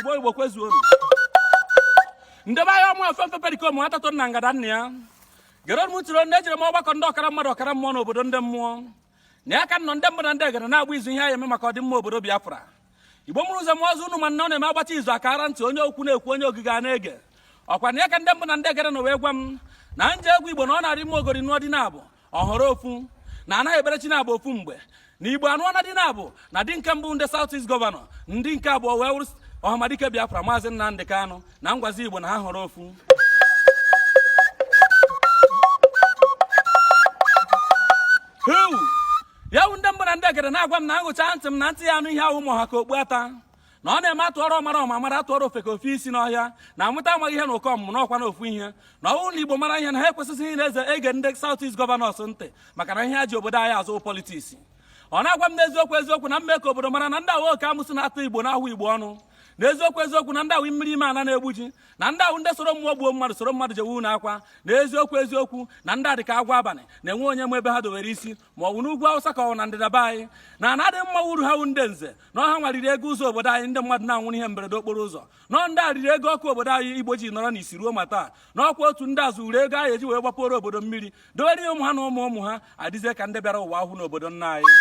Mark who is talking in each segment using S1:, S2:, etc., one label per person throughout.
S1: igbo igbo kwezuo ndebe anyị ọmụ ofe mfe perikom atatụ na ngada nna ya gere m tụrụ na ejere m ọgbakọ ndị ọkara mmadụ ọkara mmụọ n'obodo ndị mmụọ na ya ka nọ ndị mbụ na ndị egede na-agba izu ihe a ya-eme maka ọdịmma obodo Biafra igbo mụrụ nze mụọ ọzọ unu ma na ọ na-eme agbacha izu akara ntị onye okwu na-ekwu onye ogige a na-ege ọkwa na ya ka ndị mbụ na ndị egede nọ wee gwa m na m je gwa igbo na ọ na-arị mma ogori nụọ di nabụ ọ họrọ ofu na anaghị ekpere chi nabụ ofu mgbe na igbo anụọna di nabụ na di nke mbụ ndị South East gọvanọ di nke abụọ wee wụrụ ọhamadike Biafra maazị Nnamdị Kanụ na m gwazi igbo na ha họrọ ofu ya wu ndị mbụ na ndị egede na-agwa m na m gụcha ntị m na ntị ya-anụ ihe awụ ma ọ ha ka okpu ata na ọ na-eme atụọrọ ọmara ọma mara atụọrọ ofeke o fee isi n'ọhịa na amụta amaghị ihe na ụkọ ọmụmụ n'ọkwa na ofu ihe na ọwụ na igbo mara ihe na ha ekwesịghị ịnazi ege ndị South East gọvanọs ntị maka na ihe ha ji obodo anyị azụ politiks ọ na-agwa m n'eziokwu eziokwu na m mee ka obodo mara na ndị a wụ oke amụsị na-atụ igbo na-ahụ igbo ọnụ na eziokwu eziokwu na ndị a wụ mmiri ime ala na-egbu ji na ndị a wụ ndị soro mmụọ gbuo mmadụ soro mmadụ jewe n'akwa na eziokwu eziokwu na ndị a dịka agwọ abalị na enwe onye ma ebe ha dowere isi ma ọ bụ n'ugwu awụsa ka ọ na ndịda be anyị na ana adị mma wụ uru ha wụ ndị nze na ọ ha nwa riri ego ụzọ obodo anyị ndị mmadụ na-anwụrụ ihe mberede okporo ụzọ na ọ ndị a riri ego ọkụ obodo anyị igbo ji nọrọ n'isi ruo ma taa na ọkwa otu ndị a zuru ego a ya-eji wee gbapụrụ obodo mmiri dowere ụmụ ha na ụmụ ụmụ ha adịzie ka ndị bịara ụwa ahụ n'obodo nna anyị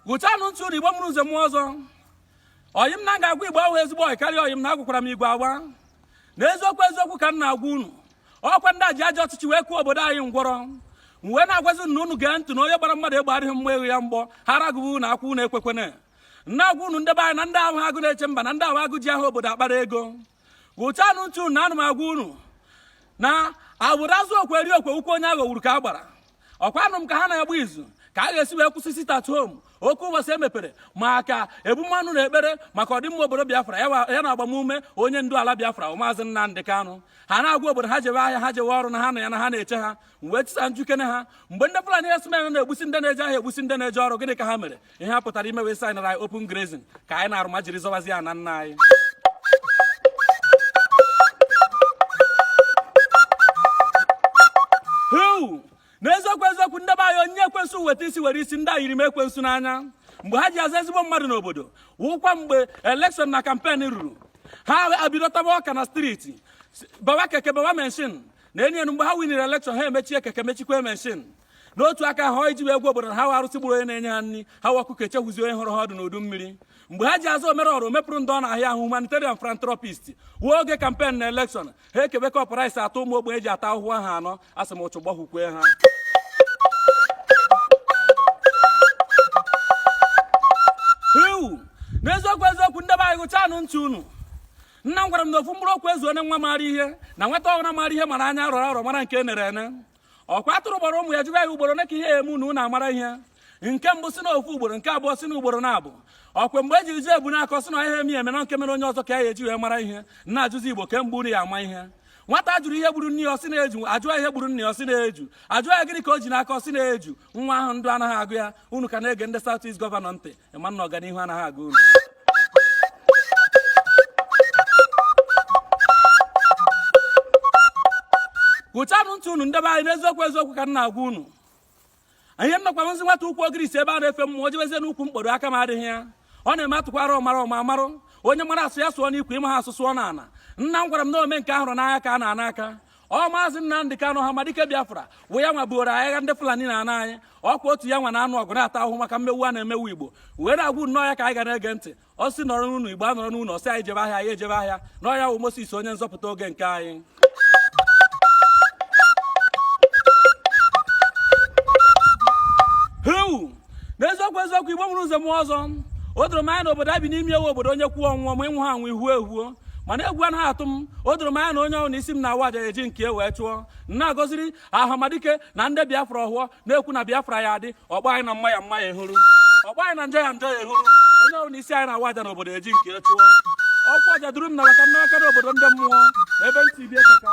S1: gụchanụ ntị unu igbo mụrụ nze mụọ ọzọ ọyị m na ga-agwa igbo awụ ezigbo ọyị karịa ọyị m na agwakwara m igbo agwa na eziokwu eziokwu ka m na-agwa unu ọkwa ndị a ji ajọ ọchịchị wee kụọ obodo anyị ngwọrọ m wee na-agwazi na unu gee ntị na onye gbara mmadụ egbe adịghị mma egwu ya mgbọ ha ragụbụ unu akwụ unu ekwekwana na-agwa unu ndebe anyị na ndị a awụ agụ na-eche mba na ndị a wụ agụ ji aha obodo akpara ego gụchanụ ntị na ana m agwa unu na agbụrụ azụ okwe eri okwe ukwu onye aghọgburu ka a gbara ọkwa anụ m ka ha na-agba izu ka a ga-esi wee kwụsị sit at home oke ụbọchị emepere maka ebumọnụ na ekpere maka ọdịmma obodo biafra ya na agbamume onye ndu ala biafra maazị nnamdị kanụ ha na-agwa obodo ha jewe ahịa ha jewe ọrụ na ha na ya na ha na-eche ha wee chisa m jụkene ha mgbe ndị fulani herdsmen na-egbusi ndị na-eje ahịa egbusi ndị na-eje ọrụ gịnị ka ha mere ihe ha pụtara ime wee saịnara anyị open grazing ka anyị na-arụ ma jiri zọwazie ana nna anyị Huu! n'eziokwu eziokwu ndị be anyị onye ekwensu weta isi were isi ndị a yiri m ekwensu n'anya mgbe ha ji aza ezigbo mmadụ n'obodo wụkwa mgbe elekshọn na kampen ruru ha abido taba ọka na striti bawa keke bawa menshin na-enyi enu mgbe ha winere elekshọn ha emechie keke mechikwa menshin n'otu aka ha ji wee gwa obodo na ha wụ arụsị gburu onye na-enye ha nri ha wụ ọkụkọ echehuzi onye horo ha ọdụ n'udu mmiri mgbe ha ji aza omere ọra omepụrụ ndị ọ na-ahịa ahụ humanitarian philanthropist wụ oge kampen na elekshọn ha ekebe kọp rice atọ ụmụ ogbenye ji ata ahụhụ ahọ anọ asị m ụchụ gbahụkwe ha ewu n'eziokwu eziokwu ndị be anyị gụchanụ ntị unu nna m gwara m na ofu mkpụrụ okwu ezuoro nwa maara ihe na nwata ọhụrụ maara ihe mara anya rọrọ arọ mara nke nere ene ọkwa atụrụ kpọrọ ụmụ ya jụba ha ugboro one ka ihe eme unu unu amara ihe nke mbụ sị na ofu ugboro nke abụọ sị na ugboro naabọ ọkwa mgbe e jiri jụọ Ebunakọ ọ sị na ihe emi eme na nke mere onye ọzọ ka ya eji wee mara ihe ana m ajụzi Igbo kee mgbe unu ya-ama ihe nwata jụrụ ihe gburu nne ya ọ sị na-eju ajụọ ihe gburu nne ya ọ sị na-eju ajụọ ya gịnị ka o ji n'aka ọ sị na-eju nwa ahụ ndụ anaghị agụ ya unu ka na-ege ndị South East gọvanọ ntị ị ma na ọganihu anaghị agụ unu gụchanụ ntị unu ndị be anyị n'eziokwu eziokwu ka m na-agwa unu ihe na ọkwa m zi nwata ukwu ogirisi ebe a na-efe mmụọ o jebezie n'ukwu mkporo aka m adịghị ya ọ na-eme a tụkwara ọmara ọma amarụ onye mara asụ ya sụọ n'ikwe ị maha asụ sụọ n'ana nna m gwara m na ome nke a hụrụ n'anya ka a na-ana aka ọ Maazị Nnamdị Kanụ Ọhamadike Biafra wụ ya nwa buoro agha ndị Fulani n'ana anyị ọkwa otu ya nwa na-anụ ọgụ na-ata ahụhụ maka mmewu a na-emewu Igbo wee na-agwa unu na ọ ya ka anyị ga na-ege ntị ọ sị nọrọ n'ụnọ Igbo anọrọ n'ụnọ ọ sị anyị jebe ahịa anyị ejebe ahịa na ọ ya wụ Moses onye nzọpụta oge nke anyị n'eziokwu eziokwu Igbo nwere ụzọ mụọ ọzọ o doro m anya na obodo a bi n'ime ya wụ obodo onye kwuo ọ nwụọ ma ị nwụha anwụ i huo ehuo mana egwu anaghị atụ m o doro m anya na onye ọhụrụ na isi m na-awa aja eji nke e wee chụọ na-agọziri Ọhamadike na ndị Biafra ọhụọ na-ekwu na Biafra ya-adị ọ gba anyị na mma ya mma ya ehuru ọ gba anyị na njọ ya njọ ya ehuru onye ọhụrụ na isi anyị na-awa aja na obodo eji nke e chụọ ọkwa ọja duru m na maka nnawaka na obodo ndị mmụọ na ebe ntị bie keka